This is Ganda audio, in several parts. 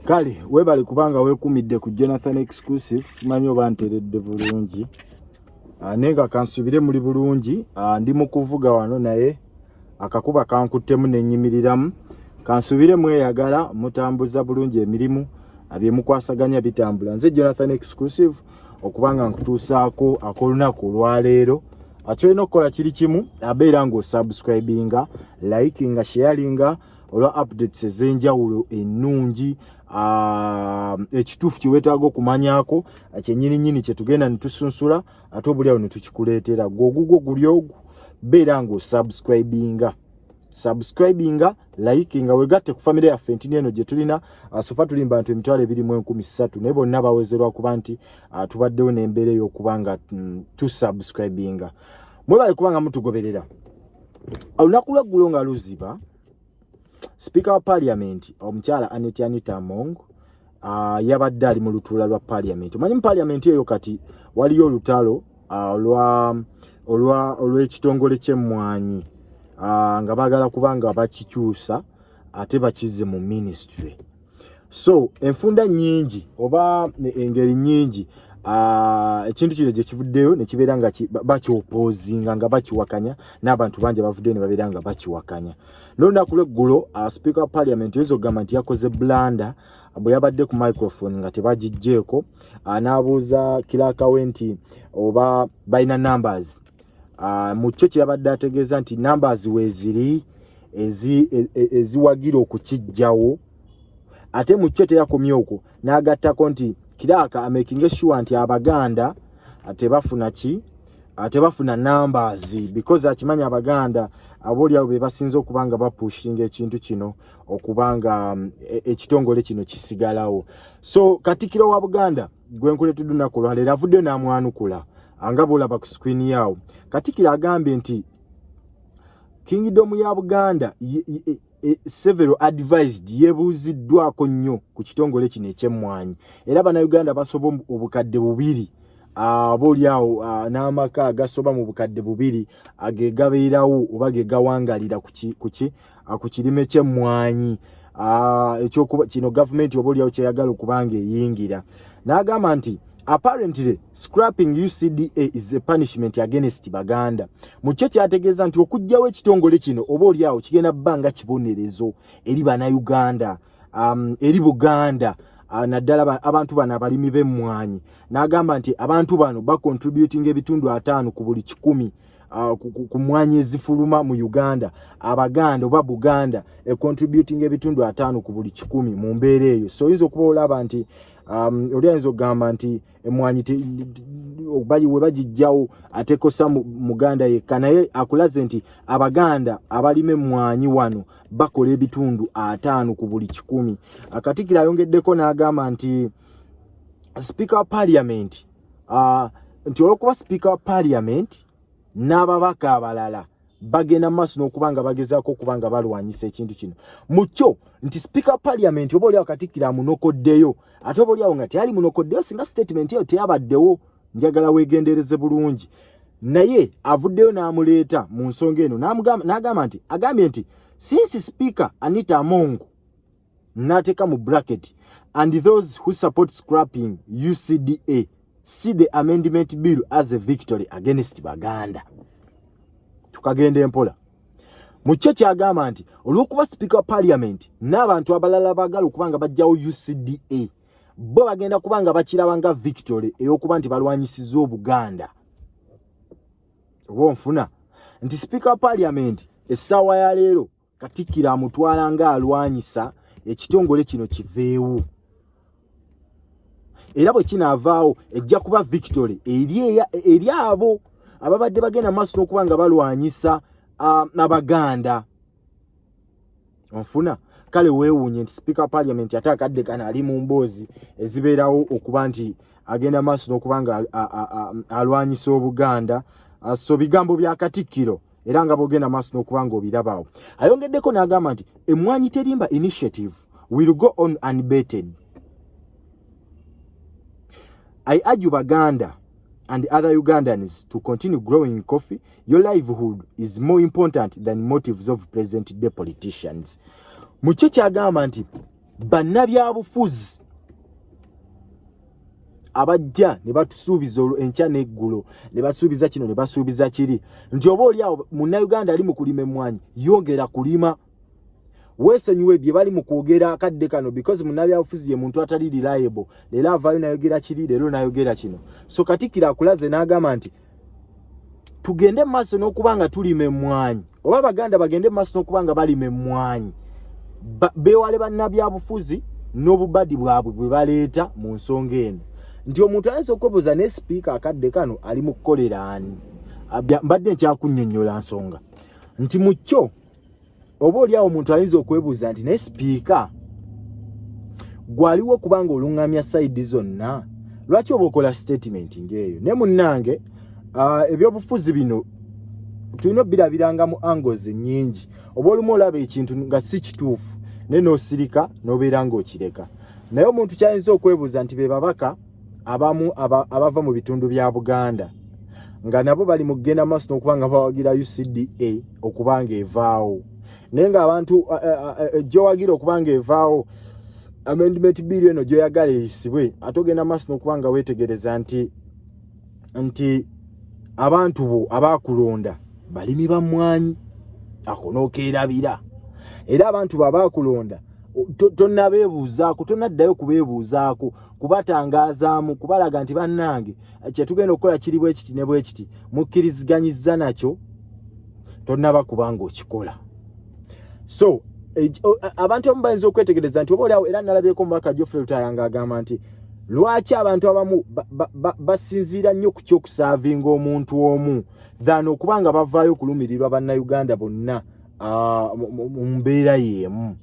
kale webale kubanga wekumidde ku jonathan exclusive simanyi oba nteredde bulungi ah, naye nga kansubire muli bulungi ah, ndi mu kuvuga wano naye akakuba kankuttemu nenyimiriramu kansubire mweyagala mutambuza bulungi emirimu ah, byemukwasaganya bitambula nze jonathan exclusive okuba nga nkutuusaako ak'olunaku olwaleero akyolina okukola kiri kimu abeera ng'osubscribinga likinga sharinga olwa updates ez'enjawulo ennungi Ah, ekituufu kyewetaaga okumanyako ah, kyenyini nyini kyetugenda netusunsula ate obuli awo netukikuleetera gwe ogugwo guli ogwo beera nga osubscribinga subscribinga likinga wegatte ku famire yaffe ntini eno gye tulina uh, sofa tuli mubantu emitwalo ebiri mu enkumi ssatu naye bonna bawezerwa kuba nti uh, tubaddewo n'embeera ey'okuba nga mm, tusubscribinga mwebale kuba nga mutugoberera olunaku lweggulo nga luziba sipiika wa paliamenti omukyala aneti anita mong uh, yabadde ali mu lutuula lwa parliament omanyi mu parliament eyo kati waliyo olutalo ah, olwa olwa olwekitongole kyemmwanyi ah, nga bagala kuba nga bakikyusa ate bakize mu ministry so enfunda nyingi oba engeri nyingi ekintu kino gyekivuddeyo nekibeera nga bakyopozinga nga bakiwakanya n'abantu bangi abavuddeyo ne babeera nga bakiwakanya nolunaku lweggulo uh, speaker wa parliament oyinza okugamba nti yakoze blanda bwe yabadde ku microphone nga tebagijjeeko uh, n'abuuza kirakawe nti oba balina numbers uh, mu kyo kye yabadde ategeeza nti numbers weeziri e, e, eziwagira okukijjawo ate mu kyo teyakomye okwo n'agattako nti kiraaka amakinge sure nti abaganda tebafuna ki tebafuna numbers because akimanya abaganda aboolyawo be basinze okuba nga bapushinga ekintu kino okuba nga mm, e, ekitongole kino kisigalawo so katikiro wa buganda gwenkuleteddwa ennaku olwaleero avuddeyo n'amwanukula nga bwolaba ku screen yaawo katikiro agambye nti kingdom ya buganda e, several advised yebuuziddwako nnyo ku kitongole kino ekyemmwanyi era bannayuganda basoba obukadde bubiri aba olyawo n'amaka agasoba mu bukadde bubiri ge gabeerawo oba ge gawangalira ku kirime ky'emmwanyi ekyokuba kino gavumenti oba olyawo kyeyagala okubanga eyingira n'agamba nti apparently scrapping ucda is a punishment against baganda mukyo kyategeeza nti okugjawo ekitongole kino oba olyawo kigenda bbanga kibonerezo eri bana uganda um, eri buganda uh, naddala abantu bano abalimi bemmwanyi n'agamba nti abantu bano bacontributing ebitundu ataano ku buli kikumi uh, ku mwanyi ezifuluma mu uganda abaganda oba buganda econtributing ebitundu ataano ku buli kikumi mu mbeera eyo so oyinza okuba olaba nti um, oli ayinza okugamba nti emwanyi bali we bagijjawo atekosa muganda yekka naye akulaze nti abaganda abalima emmwanyi wano bakola ebitundu ataano ku buli kikumi akatikira ayongeddeko n'agamba nti sipiika wa paliamenti uh, nti olwokuba sipiika wa paliamenti n'ababaka abalala bagenda maaso n'okuba nga bagezaako okuba nga balwanyisa ekintu kino mu kyo nti sipiika paliamenti oba oliawo katikkiro amunokoddeyo ate oba oliawo nga teyali munokoddeyo singa sitatimenti eyo teyabaddewo njagala weegendereze bulungi naye avuddeyo n'amuleeta mu nsonga eno n'agamba nti agambye nti sinsi sipiika anita amongu nateka mu bracket and those who support scrapping ucda see the amendment bill as a victory against baganda tukagenda empola mukyo kyagamba nti olwokuba speaker wa parliament n'abantu abalala bagala okuba nga bajjawo ucda bo bagenda kuba nga bakiraba nga victory eyokuba nti balwanyisiza obuganda oba onfuna nti speaker wa parliament essaawa ya leero katikkiro amutwala nga alwanyisa ekitongole kino kiveewo era bwe kinaavaawo ejja kuba victory eri abo ababadde bagenda maaso n'okuba nga balwanyisa abaganda onfuna kale weewuunye nti sipiika wa parliament ate akadde kano ali mu mboozi ezibeerawo okuba nti agenda maaso n'okuba nga alwanyisa obuganda so bigambo bya katikkiro era nga bogenda maaso n'okuba nga obirabaawo ayongeddeko n'agamba nti emmwanyi terimba initiative will go on unbeted i argue baganda and other ugandans to continue growing coffee your livelihood is more important than motives of present day politicians mukyo kyagamba nti bannabyabufuzi abajja ne batusuubiza enkya n'eggulo ne basuubiza kino ne basuubiza kiri nti oba oli awo munnayuganda ali mu kulima emmwanyi yongera kulima weesonyiwe bye bali mu kwogera akadde kano because munnabyabufuzi ye muntu atali reliable leero avaayo nayogera kiri leero nayogera kino so katikkiro akulaze n'agamba nti tugende mu maaso n'okuba nga tulima emmwanyi oba abaganda bagende mu maaso n'okuba nga balima emmwanyi beewale bannabyabufuzi n'obubadi bwabwe bwe baleeta mu nsonga eno nti omuntu ayinza okwebuuza ne sipiika akadde kano ali mu kukolera ani mbadde nkyakunnyonnyola nsonga nti mu kyo oba oli awo omuntu ayinza okwebuuza nti naye sipiika gwaliwo kubanga oluŋŋamya sayidi zonna lwaki oba okola sitatimenti ng'eyo naye munnange ah, ebyobufuzi bino tulina obirabiranga mu angles nyingi oba olumu olaba ekintu nga si kituufu naye n'osirika n'obeera ng'okireka naye omuntu kyayinza okwebuuza nti be babaka abamu abava mu bitundu bya buganda nga nabo bali mu kugenda maaso n'okuba nga bawagira ucda okuba nga evaawo naye ngaabantu gyowagira okuba nga evaawo amendment bill eno gyoyagala eyisibwe ate ogenda maaso n'okuba nga weetegereza nti nti abantu bo abaakulonda balimi ba mmwanyi ako n'okeerabira era abantu bo abaakulonda tonabeebuuzaako tonaddayo kubeebuuzaako to kubatangaazaamu kubalaga nti bannange kyetugenda okukola kiri bwe kiti ne bwe kiti mukkiriziganyizza nakyo tonnaba kubanga okikola so abantu abamu bayinza okwetegereza nti oba oliawo era nalabyeko omubaka jofre lutaya nga agamba nti lwaki abantu abamu basinziira nnyo ku kyokusaavinga omuntu omu than okuba nga bavaayo okulumirirwa bannayuganda bonna ah, mu mbeera yeemu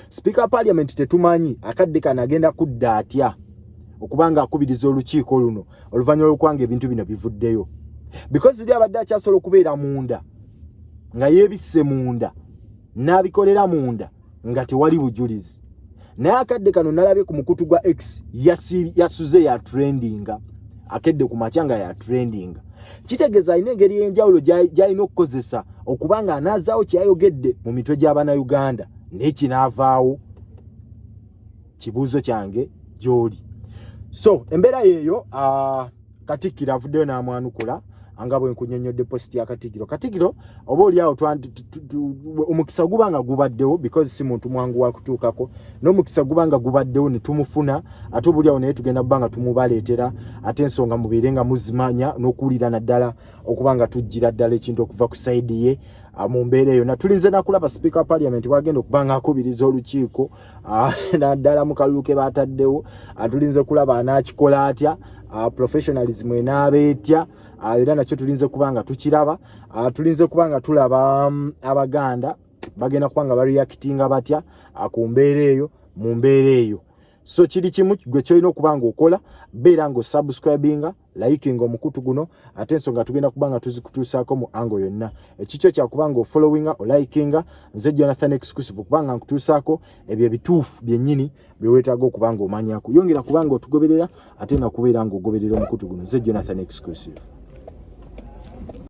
Sipiika wa Parliament tetumanyi akadde kano agenda kudda atya okuba nga akubiriza olukiiko luno oluvannyuma lw'okuwanga ebintu bino bivuddeyo because uli abadde akyasobola okubeera munda nga yeebisse munda n'abikolera munda nga tewali bujulizi naye akadde kano nalabye ku mukutu gwa x yasuze ya trendinga akedde ku makya nga ya trendinga kitegeeza alina engeri y'enjawulo gy'alina okukozesa okuba nga anaazaawo kyeyayogedde mu mitwe gy'abanauganda naye kinaavaawo kibuuzo kyange gy'oli so embeera yeeyo uh, katikkiro avuddeyo n'amwanukula nga bwe nkunyonnyodde positi ya katigiro katigiro oba oliawo omukisa guba nga gubaddewo because si muntu mwangu wakutuukako n'omukisa guba nga gubaddewo ne tumufuna ate oba oliawo naye tugenda kuba nga tumubaleetera ate ensonga mubeere nga muzimanya n'okuwulira naddala okuba nga tujjira ddala ekintu okuva ku saidi ye ah, mu mbeera eyo natulinze nakulaba sipiika wa paliament wagenda okuba nga akubiriza olukiiko ah, naddala mu kalulu ke bataddewo atulinze ah, kulaba anaakikola atya professionalism enaaba etya era nakyo tulinze kuba nga tukiraba tulinze kuba nga tulaba mm, abaganda bagenda kuba nga bareactinga batya ku mbeera eyo mu mbeera eyo so kiri kimu gwe kyolina okuba nga okola beera nga osubscribinga layikinga omukutu guno ate ensonga tugenda kuba nga tuzikutuusaako mu ango yonna ekikyo kyakuba nga ofollowinga olayikinga nze jonathan exclusive okuba nga nkutuusaako ebyo ebituufu byennyini bye weetaaga okuba nga omanyako yongera kuba nga otugoberera ate nga kubeera nga ogoberera omukutu guno nze jonathan exclusive